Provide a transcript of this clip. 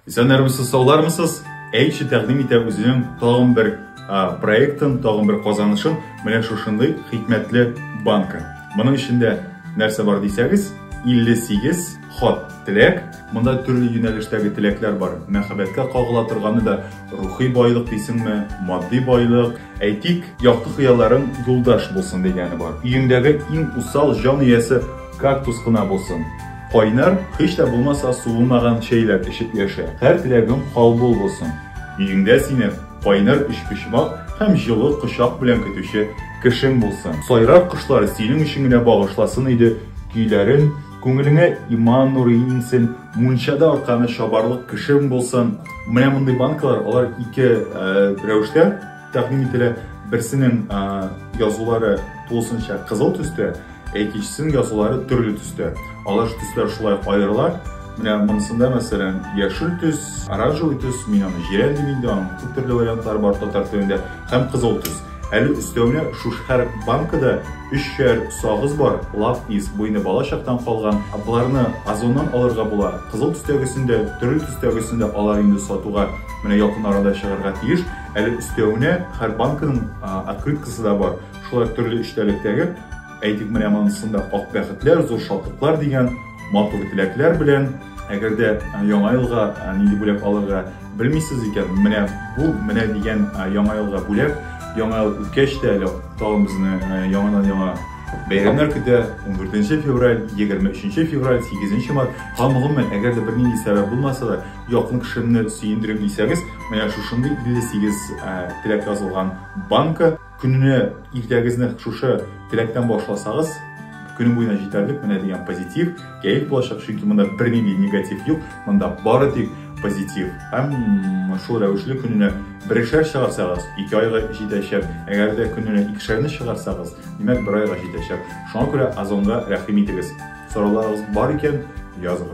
Исәннәрмесез, саулармысыз? Әйче тәкъдим итә үзенең тагын бер проектын, тагын бер казанышын менә шушындый хикмәтле банка. Моның эчендә нәрсә бар дисәгез, 58 хат теләк. Монда төрле юнәлештәге теләкләр бар. Мәхәббәткә кагыла торганы да рухи байлык дисеңме, матди байлык, Әйтик, якты хыялларың юлдаш булсын дигәне бар. Өеңдәге иң усал җан иясе кактус кына булсын. Кайнар, һич тә булмаса суынмаган чәйләр эчеп яшә. Һәр теләгең кабул булсын. Өеңдә сине кайнар өчпочмак һәм җылы кочак белән көтүче кешең булсын. Сайрар кошлар синең өчен генә багышласын иде көйләрен, Күңелеңә иман нуры иңсен, мунчада арканы чабарлык кешең булсын. Менә мондый банкалар, алар ике э, рәвештә тәкъдим ителә. Берсенең э, язулары тулысынча кызыл төстә, ә икенчесенең язулары төрле төстә. Алар төсләр шулай аерыла. Менә монысында, мәсәлән, яшел төс, оранжевый төс, мин аны җирән дим инде, аның күп төрле вариантлары бар татар телендә, һәм кызыл төс. Әле өстәвенә шушы һәр банкада Өчәр сагыз бар, лав ис, буйны бала чактан калган, боларны Озоннан алырга була, кызыл төстәгесен дә, төрле төстәгесен дә алар инде сатуга менә якын арада чыгарга тиеш, әле өстәвенә һәр банканың открыткасы да бар, шулай төрле эчтәлектәге, әйтик менә монысын да ак бәхетләр, зур шатлыклар дигән матур теләкләр белән, әгәр дә яңа елга нинди бүләк алырга, Белмисез икән, менә бу менә дигән яңа елга бүләк. Яңа ел үткәч тә әле тагын безне яңадан яңа бәйрәмнәр көтә. 14 февраль, 23 февраль, 8 март. Һәм гомумән, әгәр дә бернинди сәбәп булмаса да, якын кешемне сөендерим дисәгез, менә шушындый 58 теләк язылган банка. Көнне иртәгезне шушы теләктән башласагыз, көне буена җитәрлек менә дигән позитив кәеф булачак, чөнки монда бернинди негатив юк, монда бары тик позитив. Һәм шул рәвешле көненә берешәр чыгарсагыз, ике айга җитәчәк. Әгәр дә көненә икешәрне чыгарсагыз, димәк бер айга җитәчәк. Шуңа күрә озонга рәхим итегез. Сорауларыгыз бар икән, языгыз.